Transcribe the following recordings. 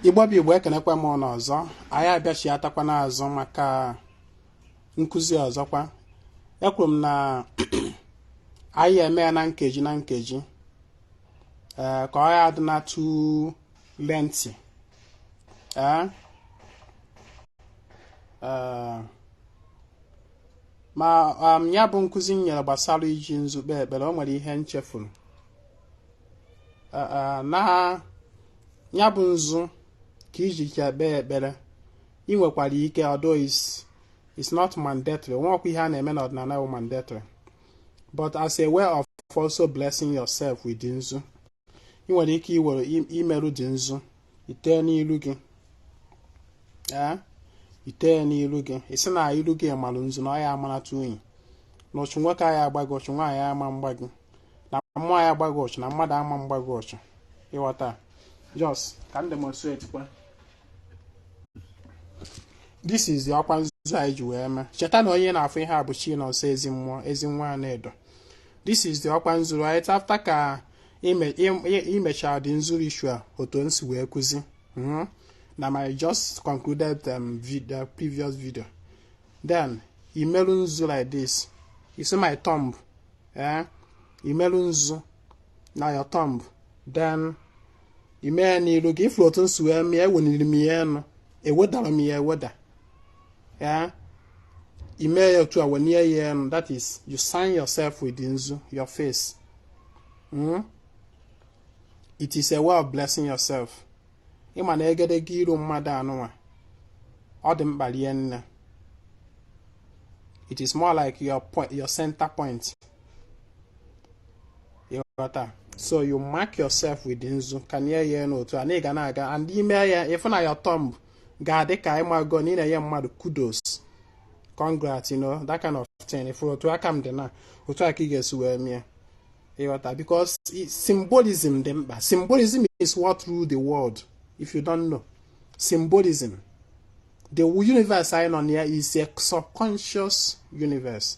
igbo bụ igbo ekenekwa m unu ọzọ anyị abịachiatakwa n'azụ maka nkụzi ọzọkwa ekwuru m na anyị ya-eme ya na nkeji na nkeji ee ka ọ ya adịna too lengthy ee ee ma um, ya bụ nkụzi m nyere gbasara iji nzu kpee ekpere o nwere ihe m chefuru na ya bụ nzu ka iji kpee ekpere ị nwekwara ike although it's not mandatory o nweọkwa ihe a na-eme n'ọdịnala bụ mandatory but as a way of also blessing yourself with nzu ị nwere ike iwere imerụ the nzu ite n'ilu gị ee ite n'ilu gị ị sị na ilu gị marụ nzu na ọ ya amarata unyi na ọchụ nwoke aya agba gị ọchụ nwaanyị ama mgba gị na mmụọ aya agba gị ọchụ na mmadụ ama mgba gị ọchụ ịghọta just ka m demonstrate kwa this is the ọkwa nzu anyị ji wee mee cheta na onye na-afụ ihe a bụ chinọnsọ ezimmụọ ezinwa anaedo this is the ọkwa nzu right after ka imechara the nzu ritual otu m si wee kụzi hmm? na my just concluded um, video, previous video then imerụ nzu like this you see my thumb eh? imerụ nzu na your thumb then imee n'iru gị ịfụrụ otu m si wee mie eweniri m ya enu ewedara m ya eweda ya ime ya otu a wenie ya enu that is you sign yourself with nzu your face mm? it is a way of blessing yourself ịma na egedege iru mmadụ anụnwa ọ dị mkpa rie nne it is more like your point your center point ịghọta so you mark yourself with nzu kanye ya enu otu a na ị ga na-aga and ime ya ịfụ na your thumb ga-adị ka ịmago na ị na-enye mmadụ kudos congrats you know that kind of thing fụ otu aka m dị na otu a ka ị ga-esi wee mie ịghọta because symbolism dị mkpa symbolism is what rule the world if you don't know symbolism the universe anyị nọ na ya is a subconscious universe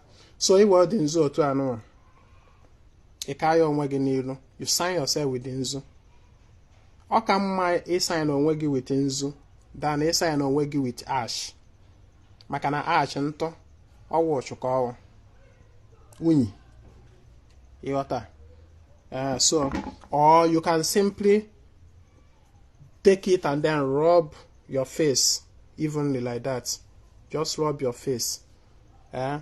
so iwee the nzu otu anụnwa ị kaa ya onwe gị n'ilu you sign yourself with nzu ọ ka mma ịsign onwe gị with nzu than ịsign onwe gị with ash maka na ash ntụ ọ wụ ọchụ ka ọ wụ unyi ịghọta eh, so or you can simply take it and then rub your face evenly like that just rub your face ee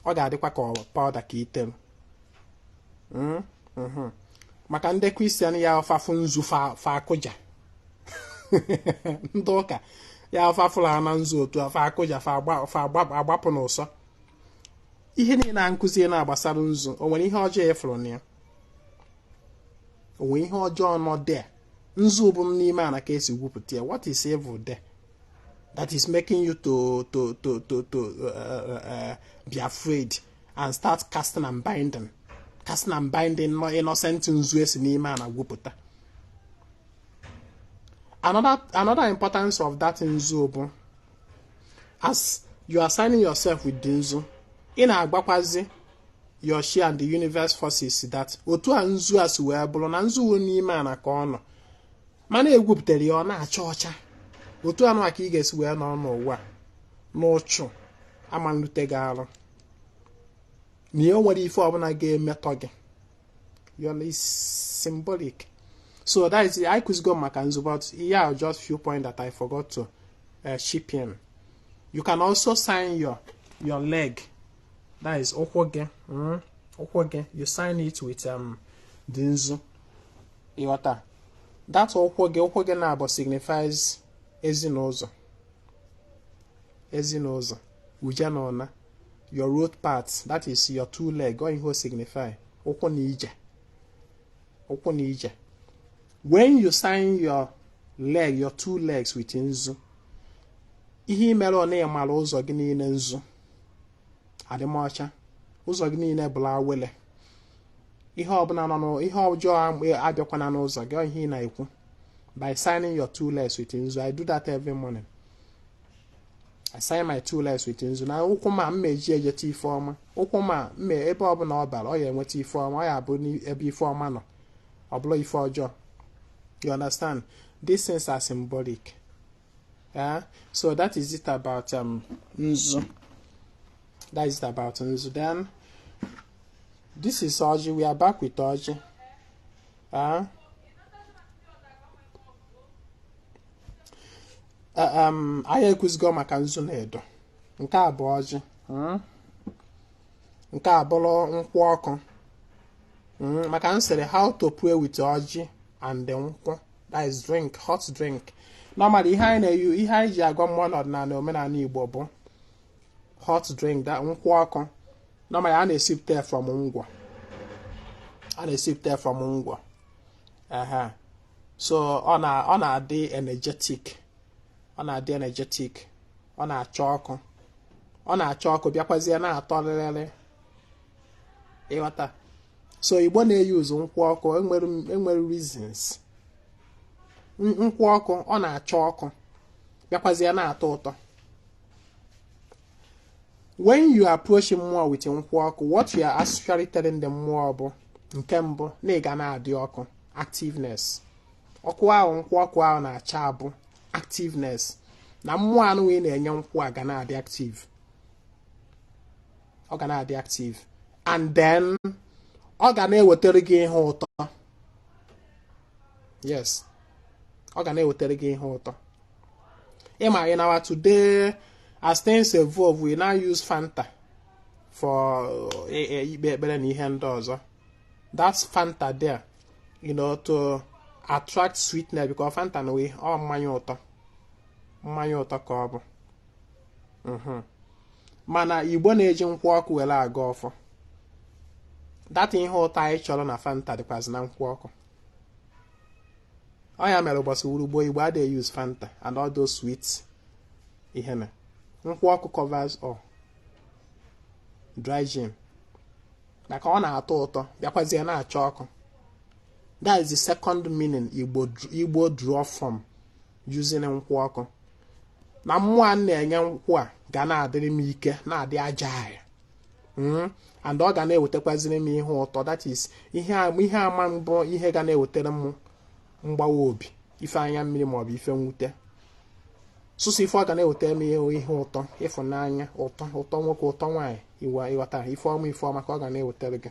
ọ ga-adịkwa ka ọ- powder ka i tere Mm, mhm. maka ndị Christian ya ọ fa fụ nzu fa- fa akụja ndị ụka ya ọ fa fụla na nzu otu a fa akụja fa agba- fa agba- agbapụ n'ụsọ ihe niile a m kụzi na-agbasara nzu o nwere ihe ọjọọ ị fụrụ na ya o nwere ihe ọjọọ nọ there nzu bụ n'ime ana ka e si gwupụta ya what is evil there that is making you to to to to to uh, uh, uh, be afraid and start casting and binding casting and binding an innocent nzu e si n'ime ana gwupụta another another importance of that nzu bụ as you are signing yourself with the nzu ị na-agwakwazi your chi and the universe forces that otu a nzu a si wee bụrụ na nzu n'ime ana ka ọ nọ mana e gwupụtara ya ọ na-acha ọcha otu anụ ka ị ga-esi wee nọrọ n'ụwa na uchu ama-erute gị arụ na enwerọ ife ọbụla ga-emetọ gị is symbolic so that is anyị kụzigo maka nzu but ihe a just few point that I forgot to uh, chip in you can also sign your your leg that is ụkwụ gị hmm? ụkwụ gị you sign it with um, the nzu ị ghọta that ụkwụ gị ụkwụ gị naabọ signifies ezi na ụzọ ezi na ụzọ uje na ụna your road path that is your two leg ọ ihe o signify ụkwụ na ije ụkwụ na ije when you sign your leg your two legs with nzu ihe i mere ọ na ị mara ụzọ gị niile nzu adịmọcha ụzọ gị niile bụlụ awele ihe ọbụla nọ n'ụ- ihe ọjọọ am- abịakwana n'ụzọ gị ọ ihe ị na-ekwu by signing your two legs with nzu I do that every morning I sign my two legs with nzu na ụkwụ m a m ma-eji ejeta ife ọma ụkwụ m a ebe ọbụla ọ bara ọ ya-enweta ife ọma ọ ya-abụ ebe ife ọma nọ ọ bụrọ ife ọjọọ you understand these things are symbolic yeah so that is it about um nzu that is it about nzu then this is ọjị we are back with ọjị uh, um anyị ekwuzigo maka nzu na edo nke a bụ ọjị mm. nke a bụrụ nkwụ ọkụ mm, maka m sịrị how to pray with ọjị and nkwụ that is drink hot drink normally ihe anyị na-eyu ihe anyị ji agọ mmụọ n'ọdịnala omenala igbo bụ hot drink that nkwụ ọkụ normally a na-esipụta from ngwọ a na-esipụta from ngwọ aha so ọ na ọ na-adị energetic ọ na-adị energetic ọ na-acha ọkụ ọ na-acha ọkụ bịakwazie na-atọ lịlịlị ịghọta so igbo na-use nkwụ ọkụ enwere reasons nkwụ ọkụ ọ na-acha ọkụ bịakwazie na-atọ ụtọ when you approach mmụọ with nkwụ ọkụ what you are actually telling the mmụọ bụ nke mbụ na ị ga na-adị ọkụ activeness ọkụ ahụ nkwụ ọkụ ahụ na-acha bụ activeness na mmụọ anụ ị na-enye nkwụ a ga na-adị active ọ ga na-adị active and then ọ ga na-ewetara gị ihe ụtọ yes ọ ga na-ewetara gị ihe ụtọ ịma in our today as things evolve we now use fanta for eh, eh, ikpe ekpere na ihe ndị ọzọ that's fanta there you know to attract sweetness because fanta na ọ mmanya ụtọ mmanya ụtọ ka ọ bụ mhm. mana igbo na-eji nkwụ ọkụ were agọ ọfọ that ihe ụtọ anyị chọrọ na fanta dịkwazị na nkwụ ọkụ ọ ya mere ụbọchị urugbo igbo adịghị use fanta and all those sweet ihe na nkwụ ọkụ covers all dry gin maka ọ na-atọ ụtọ bịakwazie na-acha ọkụ that is the second meaning igbo draw from using nkwụ ọkụ na mmụọ a na-enye nkwụ a ga na-adịrị m ike na-adị agile hmm? and ọ ga na-ewetakwaziri m ihe ụtọ that is ihe ama bụ ihe ga na-ewetara m mgbawa obi ife anya mmiri maọbụ ife mwute sọsọ ife ọ ga na-ewetara m ihe ụtọ ịfụnanya ụtọ ụtọ nwoke ụtọ nwaanyị ịghọta ife ọma ife ọma ka ọ ga na-ewetara gị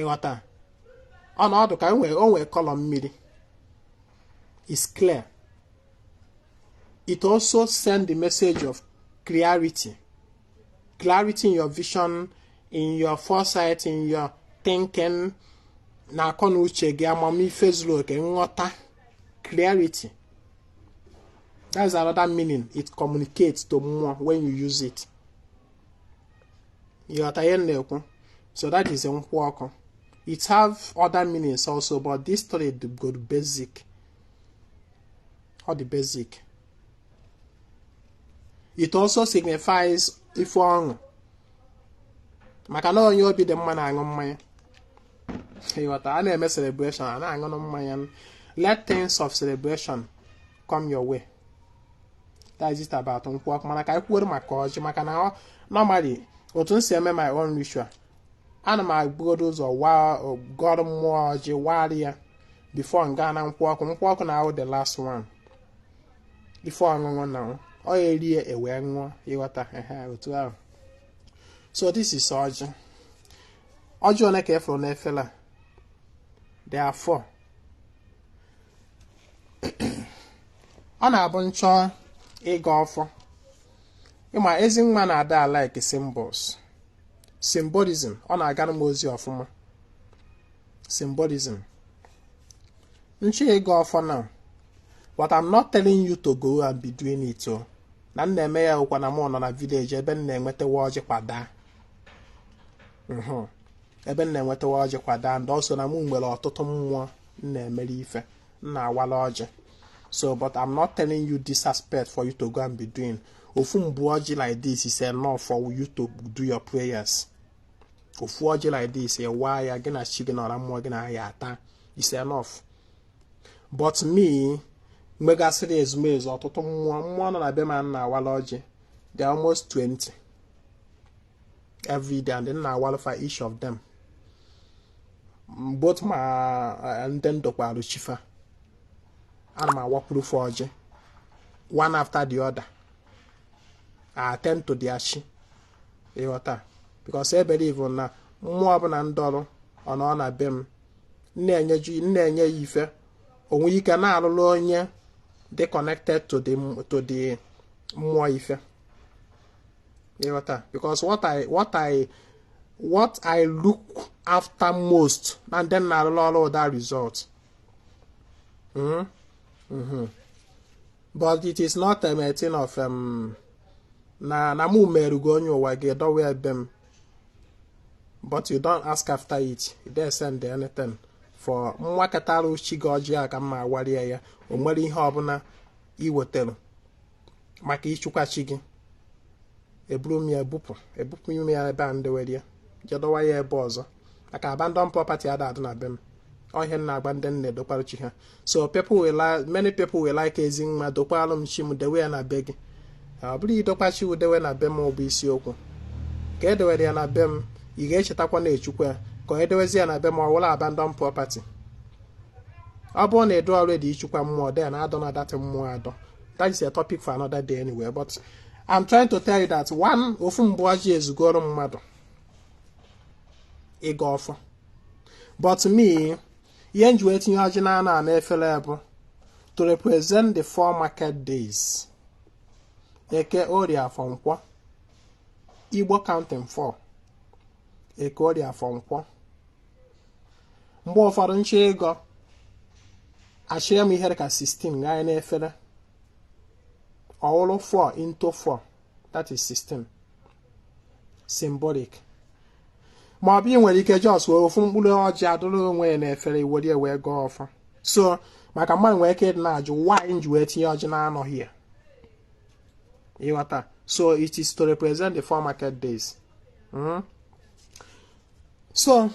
ịghọta ọ na-adị ka o nwee o nwee color mmiri is clear it also send the message of clarity clarity in your vision in your foresight in your thinking na akọ na uche gị amamife zuru oke nghọta clarity that's another meaning it communicates to mmụọ when you use it ịghọta ihe m na-ekwu so that is nkwụ ọkụ it have other meanings also but this story go basic or the basic it also signifies ife ọṅụ maka na onye obi dị mma na-aṅụ mmanya ịghọta a na-eme celebration a na-aṅụ mmanya let things of celebration come your way that is it about nkwụ ọkụ mana ka anyị kwuoro maka ọjị maka na ọ- normally otu m si eme my own ritual ana m ebugodo ụzọ waa gọrọ mmụọ ọjị wara ya before m gaa na nkwụ ọkụ nkwụ ọkụ na-awụ the last one before ọṅụṅụ na ọ ọ ya e rie e wee ṅụọ ịghọta ehe otu ahụ so this is ọjị ọjị one ka ị fụrụ n'efere a there are four ọ na-abụ m chọọ ịgọ ọfọ ị ma ezi nwa na-ada alike symbols symbolism ọ na-agara m ozi ọfụma symbolism m chọọ ịgọ ọfọ na but I'm not telling you to go and be doing it ọ na m na-eme ya ọkwa na m nọ na village ebe m na-enwetawa ọjị kwa daa ebe m na-enwetawa ọjị kwa daa and also na m nwere ọtụtụ mmụọ m na-emere ife na-awala ọjị so but i'm not telling you this aspect for you to go and be doing ofu mgbu ọjị like this is enough for you to do your prayers ofu ọjị like this ị waa ya gị na chi gị na ọra mmụọ gị na ya ata is enough but me m megasịrị ezumezu ọtụtụ mmụọ mmụọ nọ na be m m na-awala ọjị they are almost 20 every day and m na-awalụ fa each of them both ma eh, ndị m dokwarụ chi fa ana m awakwuru fa ọjị one after the other I attend to their chi ịghọta because I believe na mmụọ ọbụla m dooro ọ nọ na be m na-enyeju na-enye ya ife o nwee ike na-alụrụ onye dị connected to the to the mmụọ ife ịghọta because what I what I what I look after most na ndị m na-arụrụ ọrụ wụ the result mm -hmm. but it is not a thing of um, na na mụ merugo onye ụwa gị dowe be m but you don't ask after it you don't send anything for m wakatara chi gị ọjị aka m awarịa ya o nwere ihe ọbụla i wetara maka ichukwa chi gị eburu m ya ebupụ ebupụ m ya ebe a ndewere ya je dọwa ya ebe ọzọ maka abandon property ada adị na be m ọ ihe m na-agwa ndị m na-edokwara chi ha so people will li- many people will like Ezinwa dokwalụ m chi m dewe ya na be gị ọ bụrọ idokwa chi wụ dewe na be m ọ bụ isiokwu ka e dewere ya na be m ị ga-echetakwa na-echukwa ya ka onye dewezi ya na be m ọ wụrụ abandon property ọ bụrụ na ị dụrọ ready ichukwa mmụọ dị ya na adọna that mmụọ adọ that is a topic for another day anyway but I'm trying to tell you that one ofu mkpụrụ ọjị ezugoro mmadụ ịgọ ọfọ but me ihe nji wee tinye ọjị na anọ n'efere bụ to represent the four market days eke orie afọ nkwọ igbo counting four eke orie afọ nkwọ mgbe ụfọdụ m chọọ ịgọ achịa m ihe dịka 16 ghanye n'efere ọ wụrụ 4 into 4 that is 16 symbolic ma ọ bụ ị nwere ike just wee ofu mkpụrụ ọjị adụrụ onwe ya n'efere i were ya wee gọọ ọfọ so maka mmadụ nwere ike ịdị na-ajụ why nji wee tinye ọjị na anọ here ị ghọta so it is to represent the four market days mm? so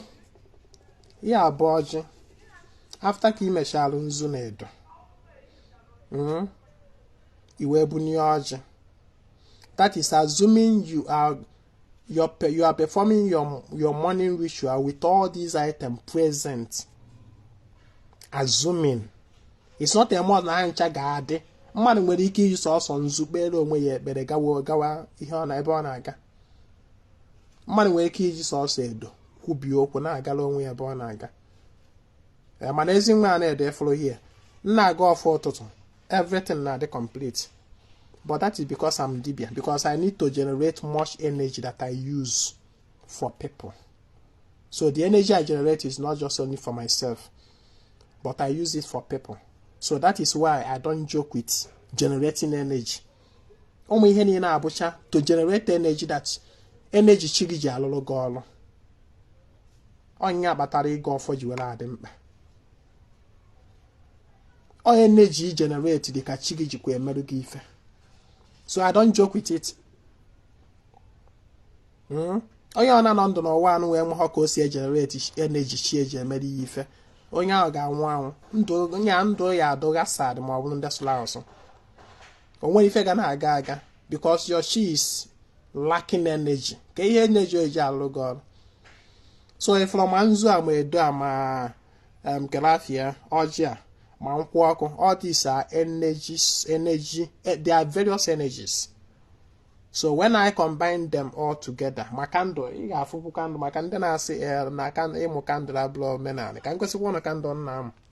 ya bụ ọjị after ka i mechara nzu na edo hmm? i wee bunye ọjị that is assuming you are you are, you are performing your your morning ritual with all these items present assuming it's not a must na ha ncha ga-adị mmadụ nwere ike iji sọsọ nzu kpere onwe ya ekpere gawa gawa ihe ọ na ebe ọ na-aga mmadụ nwere ike iji sọsọ edo kwubie okwu na-agala onwe ya ebe ọ na-aga eh, mana Ezinwa Anaedo ị fụrụ here m na-agọ ọfọ ụtụtụ everything na-adị complete but that is because I'm dibia because I need to generate much energy that I use for people so the energy I generate is not just only for myself but I use it for people so that is why I don't joke with generating energy ụmụ ihe niile a bụcha to generate energy that energy chi gị ji alụrụ gị ọrụ ọ ya kpatara ịgọ ọfọ ji were adị mkpa ọ ya na-eji generate ike chi gị jikwa emerụ gị ife so I don't joke with it hmm? onye ọ na-anọ ndụ n'ụwa a na o nwehọ ka o si egenerate energy chi ya ji emere ya ife onye ahụ ga-anwụ anwụ ndụ ya ndụ ya adụga sad ma ọ bụrụ ndị sụrụ asụ o nwerọ ife ga na-aga aga because your chi is lacking energy ka ihe energy eji alụ gị ọrụ so ị fụrụ ma nzu a ma edo a ma kelafia ọjị a ma nkwụ ọkụ all these are energies energy eh, they are various energies so when i combine them all together ma candle ị ga-afụkwu candle maka ndị na-asị eh, na ịmụ candle abụrọ omenala ka m gosikwa ụnụ candle nna m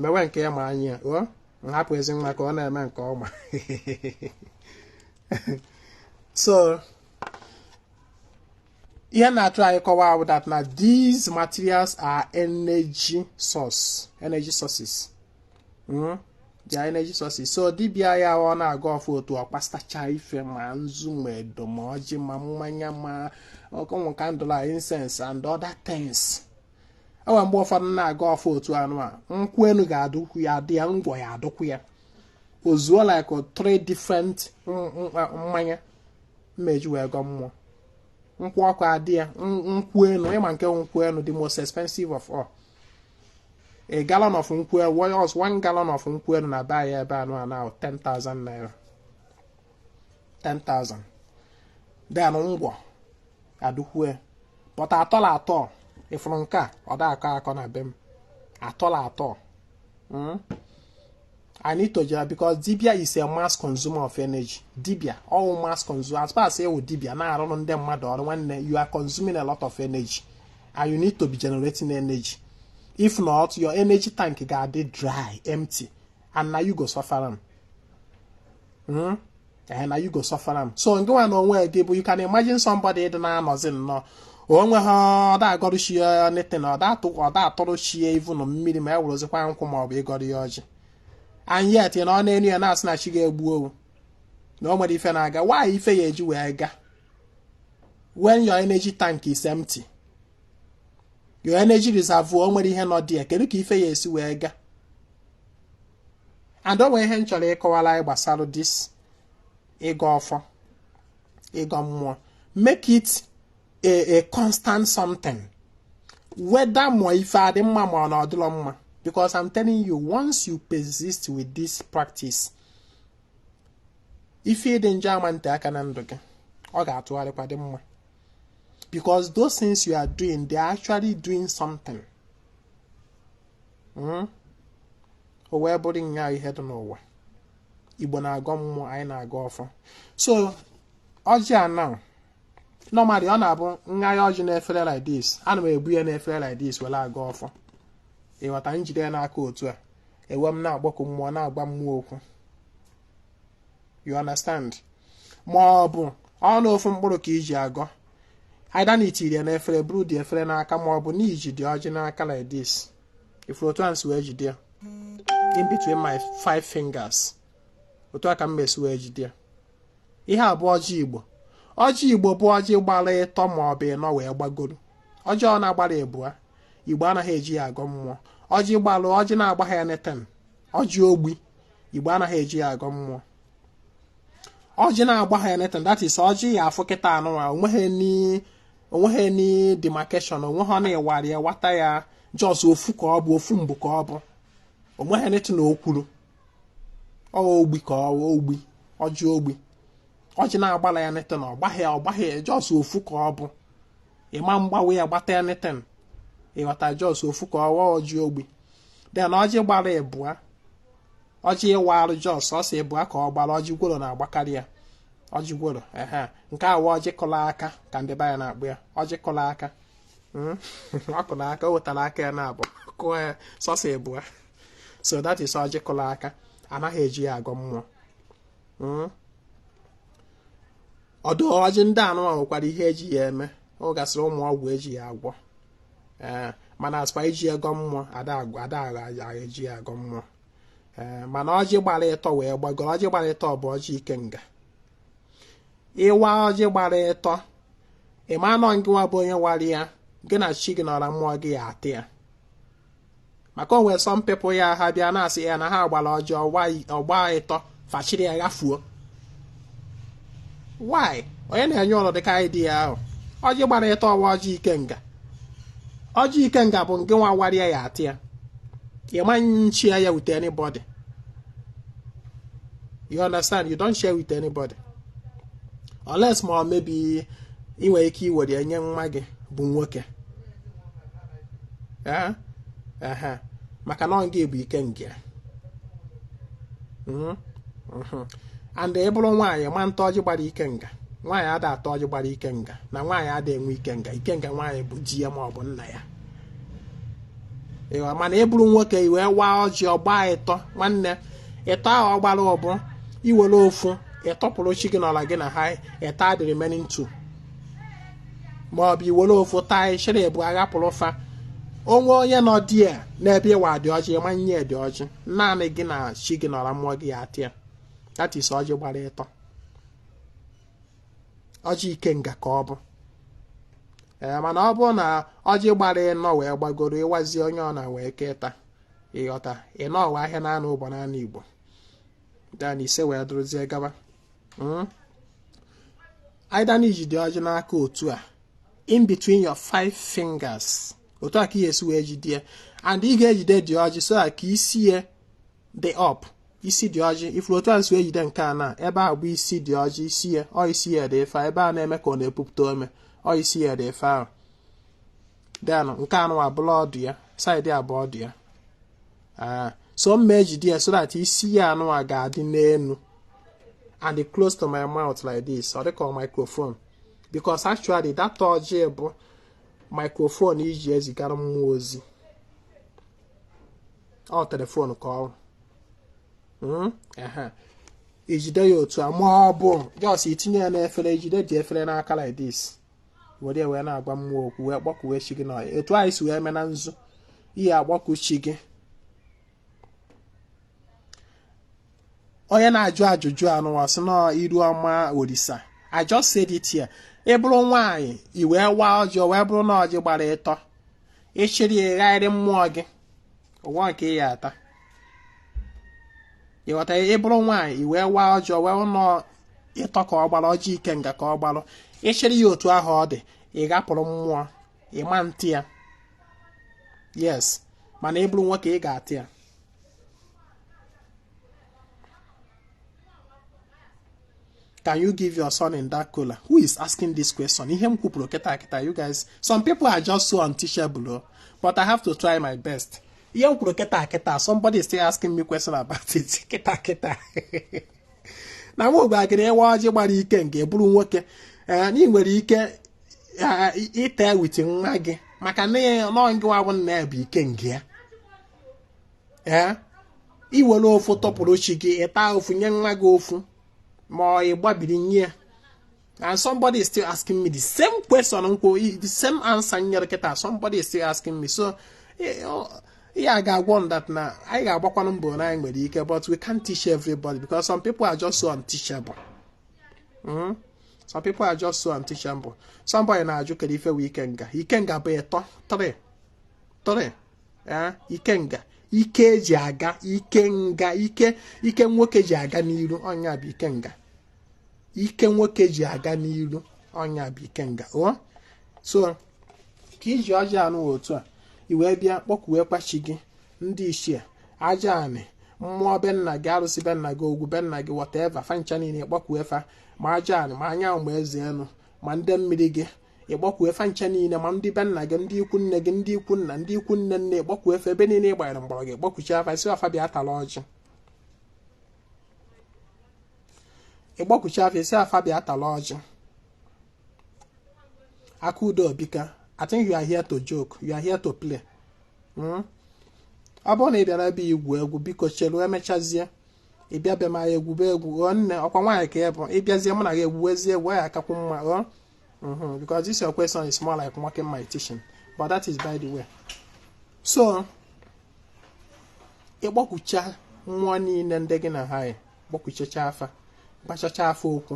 mewe nke ya ma anyị ya ghọọ nhapụ ezi nwa ka ọ na-eme nke ọma so ihe na-atry ịkọwa bụ that na these materials are energy sources mm? they are energy sources so dibịa ya ọ na-agọ ọfọ otu ọ kpasacha ife ma nzu ma edo ma ọjị ma mmanya ma ọkụnwụ candle incense and other things o nwere mgbe ụfọdụ na-agọ ọfọ otu anụ a nkwụ enu ga-adụkwu ya adị ya ngwọ ya adụkwu ya o zuo like three different mmanya m eji wee gọ mmụọ nkwụ ọkụ adị ya nkwụ enu ị ma nke nkwụ enu the most expensive of all a gallon of nkwụ enu one gallon of nkwụ enu na-abuy ya ebe anụ a now 10,000 naira 10,000 then ngwọ adụkwu ya but at all at all ị fụrụ nke a ọ da akọ akọ na be m at all at all hmm? I need to charge because dibia is a mass consumer of energy dibia ọ wụ mass consumer as far as ị wụ dibia na-arụrụ ndị mmadụ ọrụ nwanne you are consuming a lot of energy and you need to be generating energy if not your energy tank ga-adị dry empty and na you go suffer am hmm? eh, na you go suffer am so ngịnwa na onwe gị bụ you can imagine somebody dị na-anọzi nnọọ onwe ha ọ da agọrụ chi ya anything ọ da atụrụ chi ya even mmiri ma e werezikwa nkwụ ma ọ bụ ịgọrọ ya ọjị and yet na ọ na-enu ya na-asị na chi ga-egbu o na o nwerọ ife na-aga why ife ya eji wee ga when your energy tank is empty your energy reservoir o nwerọ ihe nọ dị ya kedu ka ife ya esi wee gaa and o nwere ihe m chọrọ ịkọwara anyị gbasara this ịgọ ọfọ ịgọ mmụọ make it a a constant something whether ma ife adị mma ma ọ na ọ dịlọ mma because i'm telling you once you persist with this practice ife dị njọ ama nte aka na ndụ gị ọ ga-atụgharịkwa dị mma because those things you are doing they are actually doing something hmm? o wee bụrụ na ihe dị n'ụwa igbo na-agọ mmụọ anyị na-agọ ọfọ so ọjị a na normally ọ na-abụ m ga-agha ọjị n'efere like this ana m ebu ya n'efere like this were agọ ọfọ ị ghọta m jide ya n'aka otu a ewee m na-akpọku mmụọ na-agwa mmụọ okwu you understand ma ọ bụ ọnụ ofu mkpụrụ ka i ji agọ either na i tiri ya n'efere buru the efere n'aka ma ọ bụ na i ji the ọjị n'aka like this i furu otu a m si wee jide ya in between my five fingers otu a ka m mesi wee jide ya ihe a bụ ọjị igbo ọjị igbo bụ ọjị gbara ịtọ ma ọ bụ ịnọ wee gbagoro ọjị ọ na-agbara ịbụa igbo anaghị eji ya agọ mmụọ ọjị gbalụ ọjị na-agbaghị anything ọjị ogbi igbo anaghị eji ya agọ mmụọ ọjị na-agbaghị anything that is ọjị ị ya-afụ kịta a nụ nwa o nweghị any o nweghị any demarcation o nweghị ọ na ị warị ya wata ya just ofu ka ọ bụ ofu mbụ ka ọ bụ o nweghị anything o kwuru ogbi ka ọ ogbi ọjị ogbi ọjị na-agbala anything ọ gbaghị ọ gbaghị just ofu ka ọ bụ ị ma-agbawa ya gbata anything ị ghọta just ofu ka ọ wụ ọjị ogbi then ọjị gbara ịbụa ọjị ị warụ just sọsọ ịbụa ka ọ gbara ọjị gworo na-agbakarị ya ọjị gworo ehe nke a wụ ọjị kụlụ aka ka ndị be anyị na-akpọ ya ọjị kụlụ aka hmm? ọ kụlụ aka o wetara aka ya n'abụọ kụọ ya sọsọ ịbụa so that is ọjị kụlụ aka anaghị eji ya agọ mmụọ hmm? although ọjị ndị a nụwa nwekwara ihe e ji ya eme o nwegasịrị ụmụ ọgwụ e ji ya agwọ ee mana as per iji agọ mmụọ ada eji ya agọ mmụọ ee mana ọjị gbara ịtọ wee gbagoro ọjị gbara ịtọ bụ ọjị ikenga ị waa ọjị gbara ịtọ ị ma na ọ gị nwa bụ onye wara ya gị na chi gị na ọra mmụọ gị ya-ata ya maka o nwere some people ya ha bịa na-asị ya na ha gbara ọjị ọ gbaa ịtọ fa chịrị ya ghafuo why onye na-enye ụnụ dịka idea ahụ ọjị gbara ịtọ ọ wụ ọjị ikenga ọjị ikenga bụ gị nwa warị ya ya-ata ya ị ma share ya with anybody you understand you don't share with anybody unless ma ọ maybe i nwere ike iwere ya nye nwa gị bụ nwoke Eh? Ehe. maka na ọ gị bụ ikenga ya. Mhm. Mhm. and ị bụrụ nwaanyị ị ma-ata ọjị gbara ikenga nwaanyị ada ata ọjị gbara ikenga na nwaanyị ada enwe ikenga ikenga nwaanyị bụ di ya ma ọ bụ nna ya ịwa mana ị bụrụ nwoke i wee waa ọjị ọ gbaa ịtọ nwanne ịtọ ahụ ọ gbara ọ bụ i were ofu ị tọpụrụ chi gị n'ọla gị na ha ịta the remaining two ma ọ bụ i were ofu taa ị chịrị ịbụa ghapụrụ fa o nwee onye nọ there n'ebe ị wa the ọjị ma nye the ọjị naanị gị na chi gị n'ọla mmụọ gị ya-ata ya that is ọjị gbara ịtọ ọjị ikenga ka ọ bụ ee mana ọ bụrụ na ọjị gbara ịnọ wee gbagoro ị wazie onye ọbụna wee keta ị ghọta ịnọ bụ ahịa na anọ ụbọ na anọ Igbo then ise wee dụrụzie gaba Mm. either na i jide ọjị n'aka otu a in between your five fingers otu a ka ị ga-esi wee jide ya and ị ga-ejide the ọjị so ka isi ya dị up isi the ọjị ị fụrụ otu a m si ejide nke a na ebe a bụ isi the ọjị isi ya ọ isi ya dị efe ebe a na-eme ka ọ na-epupụta ome ọ isi ya dị efe ahụ then nke anụ a bụrụ ọdụ ya side a bụ ọdụ ya ah, so m ma ejide ya so that isi ya anụ a ga-adị n'elu and close to my mouth like this ọ dịka microphone because actually that ọjị bụ microphone e ji ezigara mmụọ ozi ọ telephone ka ọ hmm? i jide ya otu a ma ọ bụ just i tinye ya n'efere i jide the efere n'aka like this were ya wee na-agwa mmụọ okwu wee kpọkuwe chi gị n'ọya etu anyị si wee mee na nzu ị ya-akpọku chi gị onye na-ajụ ajụjụ anụwa sị na Iruọma Olisa I just said it here ị bụrụ nwaanyị i wee waa ọjị o wee bụrụ na ọjị gbara ịtọ ị chịrị ghaara mmụọ gị o nwero nke ị ya-ata ị ghọta ị bụrụ nwaanyị i wee waa ọjị o wee bụrụ na ọ ịtọ ka ọ gbara ọjị ikenga ka ọ gbalụ ị chịrị ya otu ahụ ọ dị ị ghapụrụ mmụọ ị ma ata ya yes mana ị bụrụ nwoke ị ga-ata ya can you give your son in that kola who is asking this question ihe m kwupụrụ kịta kịta you guys some people are just so unteachable oh. but i have to try my best ihe m kwuru kịta kịta somebody is still asking me question about it kịta kịta na nwa ogbe agịrị ewe ọjị gbara ikenga ị bụrụ nwoke eh, na ị nwere ike ịta eh, with nwa gị maka na ọ ngịwa bụ nna ya bụ ikenga ya ee iwere ofu tụpụrụ chi gị ịta ofu nye nwa gị ofu ma ọ ịgbabiri nye ya and somebody is still asking me the same question nkwo the same answer nyere kịta somebody is still asking me so ya ga-agwa m that na anyị ga-agbakwanụ mbọ na anyị nwere ike but we can't teach everybody because some people are just so unteachable hmm? some people are just so unteachable somebody na-ajụ kedu ife bụ ikenga ikenga bụ ịtọ 3 3 ikenga ike eji aga ikenga ike ike nwoke ji aga n'iru ọ nya bụ ikenga ike nwoke ji aga n'iru ọ nya bụ ikenga o so ka iji ọjị anụ otu a i wee bịa kpọkuwekwa chi gị ndị ichie aja anị mmụọ be nna gị arụsị be nna gị agwụ be nna gị whatever fa ncha niile kpọkuwe fa ma aja anị ma anyanwụ ma eze enu ma ndị mmiri gị ịkpọkuwe fa ncha niile ma ndị be nna gị ndị ikwu nne gị ndị ikwu nna ndị ikwu nne nne ịkpọkuwe fa ebe niile ịgbanyere mgbọrọgwụ ịkpọkuchaa fa ị sị fa bịa tara ọjị ịkpọkuchaa fa ị sị fa bịa tara ọjị aka udo obika I think you are here to joke you are here to play hmm? ọ bụrụ na ị bịara ebe igwu egwu biko cheru emechazie ịbịa be m anyị egwube egwu ọ nne ọkwa nwaanyị ka ị bụ ịbịazie mụ na gị egwuwezie egwu ya akakwu mma ọ Mm -hmm, because this your question is more like mocking my teaching. But that is by the way. So, ịkpọkucha mmụọ niile ndị gị na ha kpọkuchacha fa gwachacha fa okwu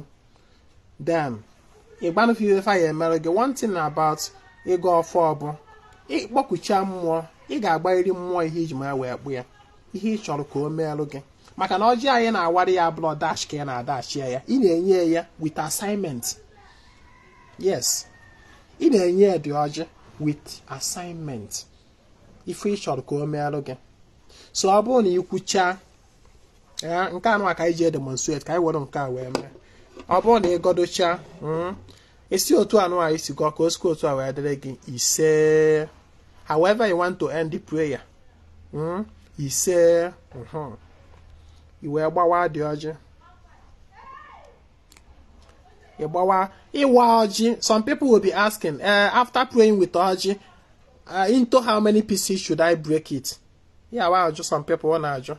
then ịgwanụ fa ife fa ya-emere gị one thing about ịgọ ọfọ ọbụ ịkpọkucha mmụọ ị ga-agwarịrị mmụọ ihe iji maka ya wee kpọọ ya ihe ị chọrọ ka o meelụ gị maka na ọjị anyị na-awara ya abụrọ dash ka ị na-adashị ya ị na-enye ya with assignment yes ị na-enye ya the ọjị with assignment ife ị chọrọ ka o meelụ gị so ọ bụrụ na ị kwuchaa nke anụ a ka anyị ji edemonstrate ka anyị were nke a wee mee ọ bụrụ na ị gọdochaa hmm, ị sị otu anụ a i si gọọ ka o sikwa otu a wee dịrị gị ise however you want to end the prayer hmm? ise mhm. i wee gbawa dị ọjị ị gbawa ịwa ọjị some people will be asking uh, after praying with ọjị uh, into how many pieces should I break it? Yeah, well, just some people want to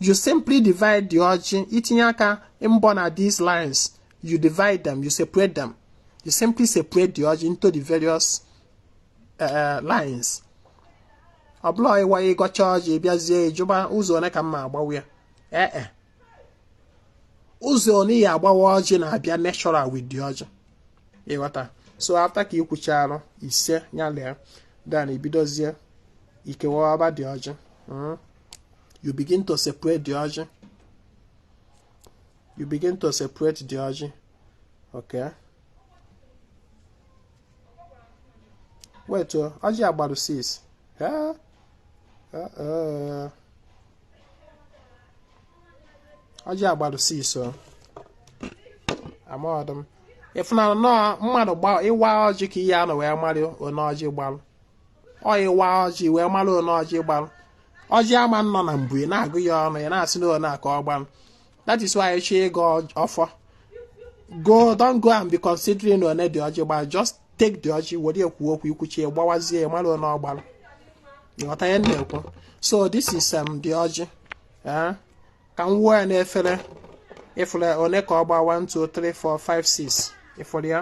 you simply divide the ọjị itinye aka mbọ na these lines you divide them you separate them you simply separate the ọjị into the various uh, uh lines ọ bụrọ ịwa ịgọcha ọjị bịazie ịjụba ụzọ one ka m ya-agbawa ya ee eh, eh. ụzọ one ị ya-agbawa ọjị na-abịa natural with the ọjị ịghọta so after ka ikwucharụ ise ya lee then ibidozie ikewaba the ọjị hmm. you begin to separate the ọjị you begin to separate the ọjị okay wait oh, ọjị a gbarụ 6 yeah. uh -uh. ọjị a gbarụ 6 o amaghọdụ m ị fụnanụ na ọọ mmadụ ịwa ọjị ka ị ya-anọ wee marị one ọjị gbalụ ọọ ịwa ọjị ị wee mara one ọjị gbalụ ọjị ama nọ na mbu ị na-agụ ya ọnụ ị na-asị na one a ka ọ gbalụ that is why ị chọọ ịgọ ọfọ don't go and be considering one the ọjị gbalụ just take the ọjị were ya kwuo okwu i kwucha ị gbawazie ya mara one ọ gbalụ ị ghọta ihe m na-ekwu so this is um, the ọjị eh? ka m wụọ ya n'efere ị fụrụ one ka ọ gba 1 2 3 4 5 6 ị fụrụ ya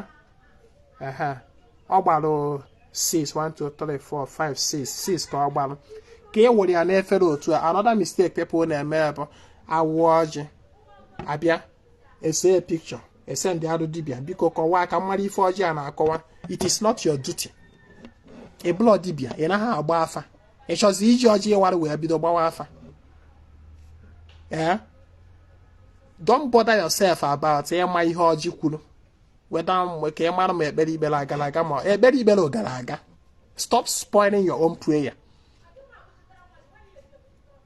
ehe ọ gbara 6 1 2 3 4 5 6 6 ka ọ gbara ka e were ya n'efere otu a another mistake people na-eme bụ a wụọ ọjị a bịa ese picture e sendịarụ dibịa biko kọwaa ka m marụ ife ọjị a na-akọwa it is not your duty ị bụlọ dibịa ị naghị agba afa ị chọzi iji ọjị ị wara wee bido gbawa afa ee don't bother yourself about ịma ihe ọjị kwuru whether maybe ka ị mara ma ekpere i kpere agara aga ma ekpere i kpere gara aga stop spoiling your own prayer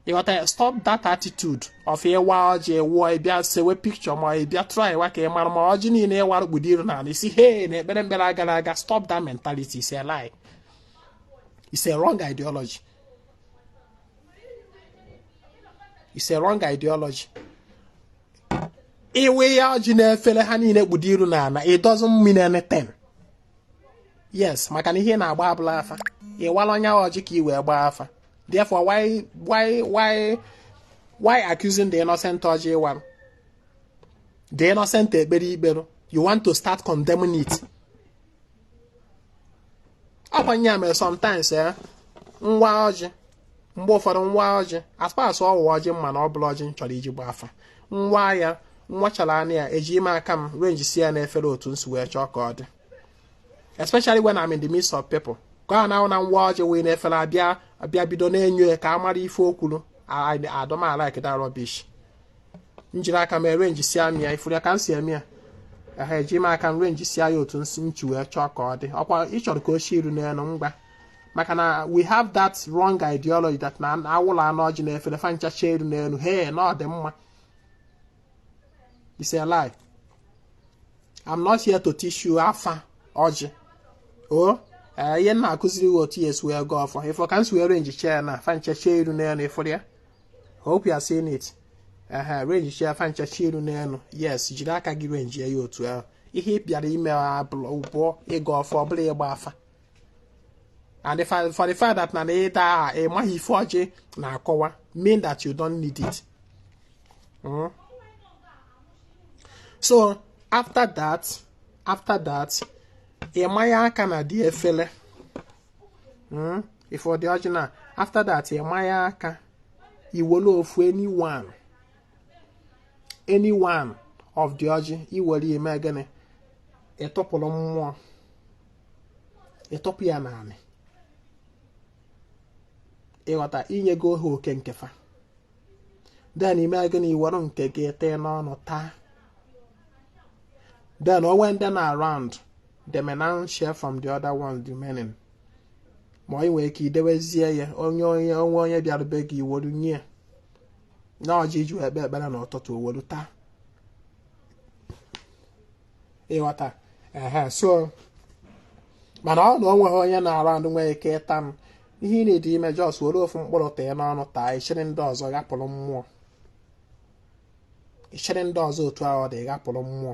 ị ghọta ya stop that attitude of ị waa ọjị wụọ ị bịa sewe picture ma ị bịa try wa ka ị mara ma ọjị niile ị wara kpudo iru n'ala ị sị hey na ekpere m kpere agara aga stop that mentality it's a lie it's a wrong ideology it's a wrong ideology ị wụ ya ọjị n'efere ha niile kpudo iru n'ana it doesn't mean anything yes maka na ihe ị na-agba abụla afa ị walọ ya ọjị ka ị wee gbaa afa therefore why why why why accusing the innocent ọjị ị warụ the innocent ekpere i kpere you want to start condemning it ọkwa ya mere sometimes eh m waa ọjị mgbe ụfọdụ m waa ọjị as far as ọ wụ ọjị m ma na ọ bụla ọjị m chọrọ iji gba afa m waa ya m wachara nụ ya eji m aka m arrange si ya n'efere otu m si wee chọọ ka ọ dị especially when I'm in the midst of people ka a na-ahụ na m waa ọjị wee n'efere a bịa a bịa bido na-enyo ya ka a mara ife o kwuru I don't like that rubbish m jiri aka m arrange si amị ya ị fụrụ ya ka m si eme ya ehe eji m aka m arrange si ya otu m si m si wee chọọ ka ọ dị ọkwa ị chọrọ ka o si iru n'elu ngwa maka na we have that wrong ideology that na awụla anụ ọjị na efere fa nchacha iru n'elu he na ọ dị mma it's a lie i'm not here to teach you afa ọjị o ee, ihe m na-akụziri gị otu ị ya-esi wee gọọ ọfọ ị fụ ka m si wee renjichaa na fa nchacha iru n'elu ị fụrụ ya hope you are seeing it ehe renjichaa fa nchacha iru n'elu yes jiri aka gị renjie ya otu ahụ ihe ị bịara ime bụ ịgọ ọfọ ọ bụrọ ịgba afa and the fact, for the fact that na ịda aha ị maghị ife ọjị na-akọwa mean that you don't need it hmm? so after that after that ị manye aka na the efele hmm? ị fụ the ọjị na after that ị manye aka i wolu ofu anyone any one of the ọjị i were i mee gịnị ị tọpụrụ mmụọ ị tọpụ ya n'anị ị ghọta i nyego ha oke nke fa then i mee gịnị i were nke gị tie n'ọnụ taa then o nwee ndị nọ around they may now share from the other ones remaining ma ị nwere ike idewezie ya onye onye o nwee onye bịara be gị i were nye na ọjị i ji ekpe ekpere na ụtụtụ o welu taa ị ghọta ehe so mana ọ na o nweghị onye nọ around nwee ike ịta m ihe ị need ime just were ofu mkpụrụ tie n'ọnụ taa ị chịrị ndị ọzọ ghapụrụ mmụọ ị chịrị ndị ọzọ otu ahụ ọ dị ghapụrụ mmụọ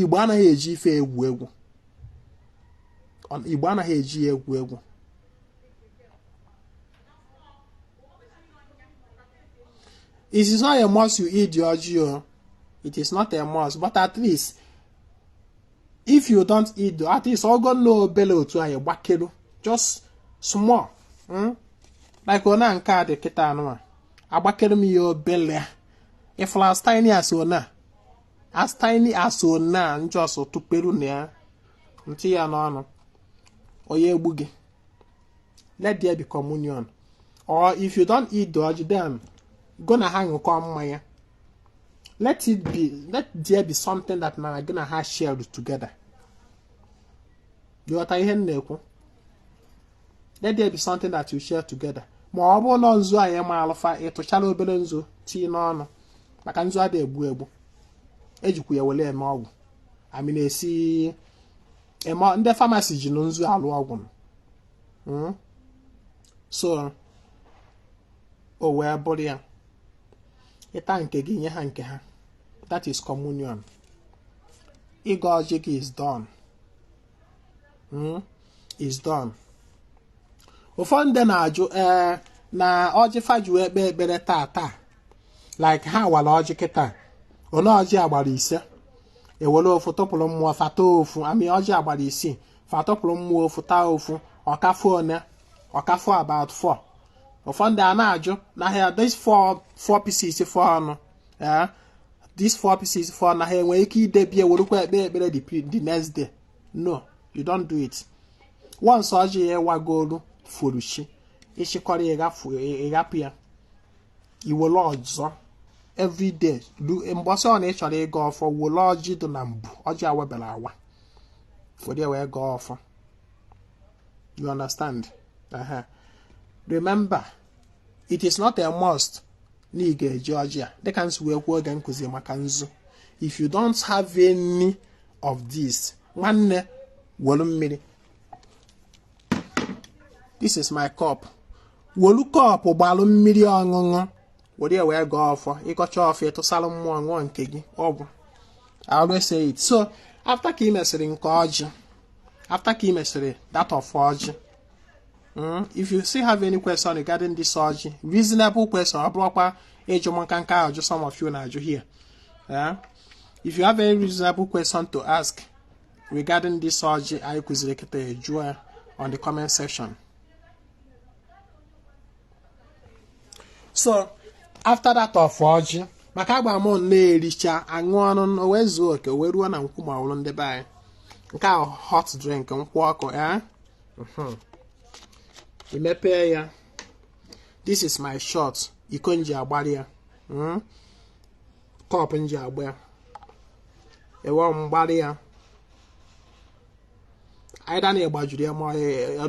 igbo anaghị eji ife egwu egwu igbo anaghị eji ya egwu egwu it is not a must you eat the ọjị it is not a must but at least if you don't eat the at least ogo nna obele otu anyị gbakelu just small hmm? like ona nke a dị kịta anụnwa agbakere m ya obele if as tiny as ona as tiny as ọ na just tụperu na ya tii ya n'ọnụ ọ ya egbu gị let there be communion or if you don't eat the ọjị then gị na ha ṅụkọ mmanya let it be let there be something that na gị na ha shared together ghọta ihe m na-ekwu let there be something that you share together ma ọ bụrụ na nzu anyị ma alụfa ị tụchara obere nzu tii n'ọnụ maka nzu ada egbu egbu ejikwa ya were eme ọgwụ I mean a sị ndị pharmacy ji nzu alụ ọgwụ hmm? so o wee bụrụ ya ị ta nke gị nye ha nke ha that is communion ịgọ ọjị gị is done hmm? is done ụfọdụ ndị na-ajụ ee eh, na ọjị fa ji wee kpee ekpere taa taa like ha wara ọjị kịta ole ọjị a gbara ise e were ofu tụpụrụ mmụọ fa ta ofu I mean ọjị a gbara isii fa tụpụrụ mmụọ ofu taa ofu ọ ka fọ one ọ ka fọ about four ụfọdụ a na-ajụ na ha these four four pieces fọrọnụ ee these four pieces fọrọ na ha enwe ike idebie werukwa ekpe ekpere the next day no you don't do it once ọjị a wagolu furu chi ị chịkọrọ ị ghapụ ya i were ọzọ every day mbọsị ọ na ị chọrọ ịgọ ọfọ were ọjị dị na mbụ ọjị awabere awa were wee gọọ ọfọ you understand uh -huh. remember it is not a must na ị ga-eji ọjị a dịka m si wee kwuo oge nkụzi maka nzu if you don't have any of this nwanne welu mmiri this is my cup welu cup gbalụ mmiri ọṅụṅụ were ya wee gọọ ọfọ ị gọcha ọfọ ị tụsara mmụọ ṅụọ nke gị ọ gwụ I always say it so after ka ị mesịrị nke ọjị after ka ị mesịrị that of ọjị Hmm? if you still have any question regarding this ọjị reasonable question ọ bụrọkwa ịjụ m nka nka ajụjụ some of you na-ajụ here eh? if you have any reasonable question to ask regarding this ọjị anyị kụziri kịta jụọ on the comment section so after that of ọjị maka agba m na e richa a ṅụọ ọnụ wee zuo oke wee ruo na nkwụ ma ọrụ ndị be anyị nke ahụ hot drink nkwụ ọkụ ya eh? mhm. i mepee ya this is my shot iko m ji agbara ya hmm? cup m ji agba ya ewee m gbara ya either na ịgbajuru ya ma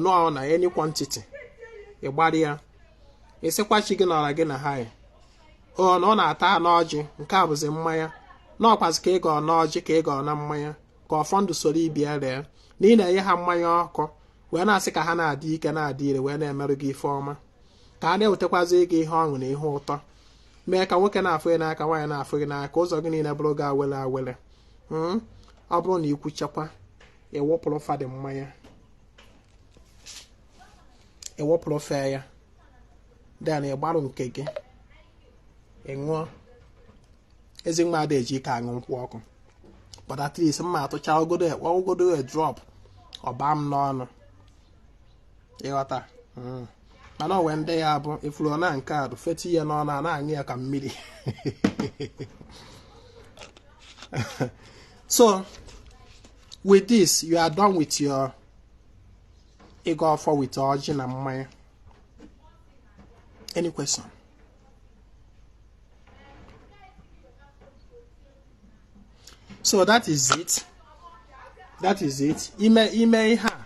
nọọ na any quantity ịgbara ya ị sịkwa chi gị nọrọ gị na ha ya ọ na ọ na-ata n'ọjị nke a bụzi mmanya na ọkwazi ka ị gọọ n'ọjị ka ị gọọ na mmanya ka ọfọ ndụ soro ibe ya ree na ị na-enye ha mmanya ọkụ wee na-asị ka ha na-adị ike na-adị ire wee na-emerụ gị ife ọma ka a na-ewetakwazi gị ihe ọṅụ na ihe ụtọ mee ka nwoke na-afụ gị n'aka nwaanyị na-afụ gị n'aka ụzọ gị niile bụrụ gị awele awele hmm? ọ bụrụ na i kwuchakwa ị wụpụrụ fa dị mmanya ị wụpụrụ fa ya then ị gbarụ nke gị ị ṅụọ ezi nwa ada eji ike aṅụ nkwụ ọkụ but at least mma atụcha ọ godu a drop ọ baa m n'ọnụ ịghọta Mm. mana o nwere ndị ya bụ ị fụrụ na nke a bụ feti ya n'ọnụ a na-aṅụ ya ka mmiri so with this you are done with your ịgọ ọfọ with ọjị na mmanya any question so that is it that is it ime ime ihe a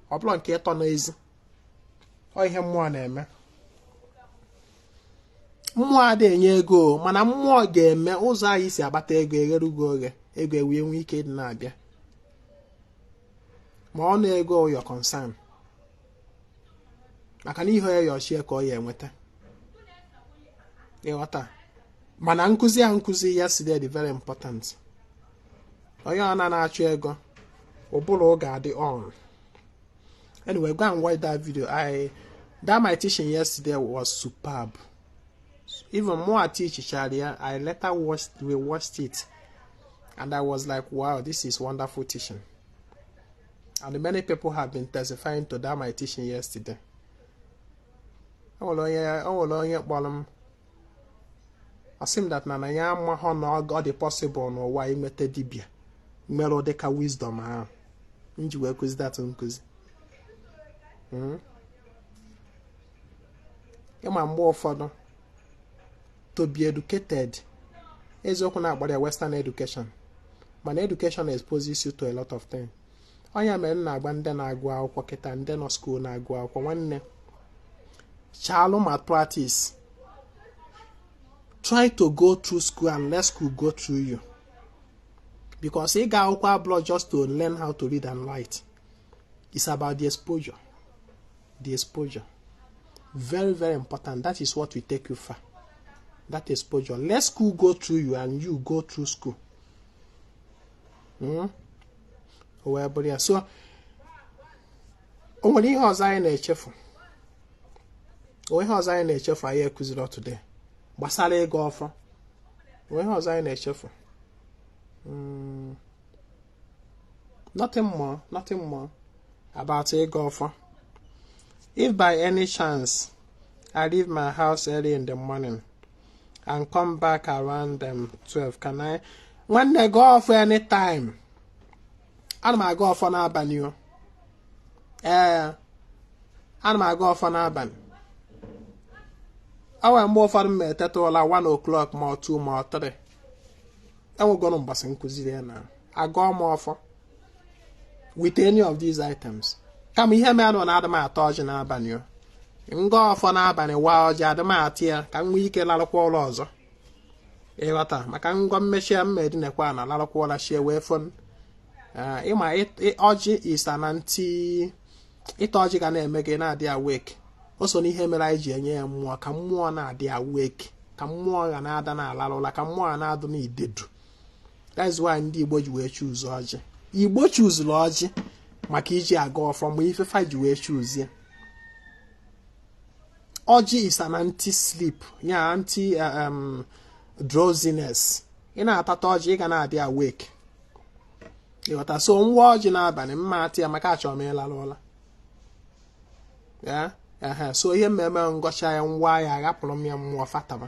ọ bụla nke ịtọ n'ezi ọ ihe mmụọ na-eme mmụọ ada enye ego mana mmụọ ga-eme ụzọ anyị si agbata ego egheru gị oghe ego ewee nwee ike ịdị na-abịa ma ọ na ego your concern maka na ihe ya yọ chi ya ka ọ ya enweta ịghọta mana nkụzi a nkụzi yesterday very important onye ọ na na-achụ ego ụbụrụ oge adị on anyway go and watch that video i that my teaching yesterday was superb even more I teach Sharia i later watched we watched it and i was like wow this is wonderful teaching and many people have been testifying to that my teaching yesterday o nwere onye o nwere onye kpọrọ m asị m that na na ya amahọ na ọ ọ dị possible n'ụwa inwete dibịa nwere ụdị ka wisdom ahụ m ji wee kụzi that nkụzi Mm. ịma mgbe ụfọdụ to be educated eziokwu na a kpọrọ ya western education mana education exposes you to a lot of things ọ ya mere m na-agwa ndị na-agụ akwụkwọ kịta ndị nọ school na-agụ akwụkwọ nwanne chaalụ ma practice try to go through school and let school go through you because ịga akwụkwọ abụrọ just to learn how to read and write it's about the exposure the exposure very very important that is what will take you far that exposure let school go through you and you go through school hmm? o wee bụrụ ya so o nwere ihe ọzọ anyị na-echefu onwe ihe ọzọ anyị na-echefu anyị ekụziri ọtụde gbasara ịgọ ọfọ o nwere ihe ọzọ anyị na-echefu hmm. nothing more nothing more about ịgọ ọfọ if by any chance I leave my house early in the morning and come back around um, 12 can I nwanne gọọ ọfọ anytime ana m agọ ọfọ n'abalị o ee ana m agọ ọfọ n'abalị o nwere mgbe ụfọdụ m eteta ụla 1 o'clock ma ọ 2 ma ọ 3 enwegoro mgbasị nkụziri ya na agọọ m ọfọ with any of these items kama ihe mere na adị m ata ọjị n'abalị o m gọọ ọfọ n'abalị waa ọjị adị m ata ya ka m nwee ike larụkwa ụla ọzọ ị ghọta maka m gọọ mechie m ma edinekwa ana larụkwa ụla chi ewee fo ah, ị ma ọjị is an anti ịta ọjị ga na-eme gị na-adị awake o so n'ihe mere anyị ji enye ya mmụọ ka mmụọ na-adị awake ka mmụọ ga na-ada na-ala ụla ka mmụọ ga na-adụ n'idedu that's why ndị Igbo ji wee choose ọjị Igbo choosuru ọjị maka iji agọ ọfọ bụ ife fa ji wee choose ya ọjị is an anti sleep ya anti uh, um, drowsiness ị na-atata ọjị ị ga na-adị awake ị ghọta so m waa ọjị n'abalị m ma ata ya maka achọrọ m ịlarụ ụla so ihe m me-eme m gọcha ya m waa ya aghapụrụ m ya mmụọ fa tama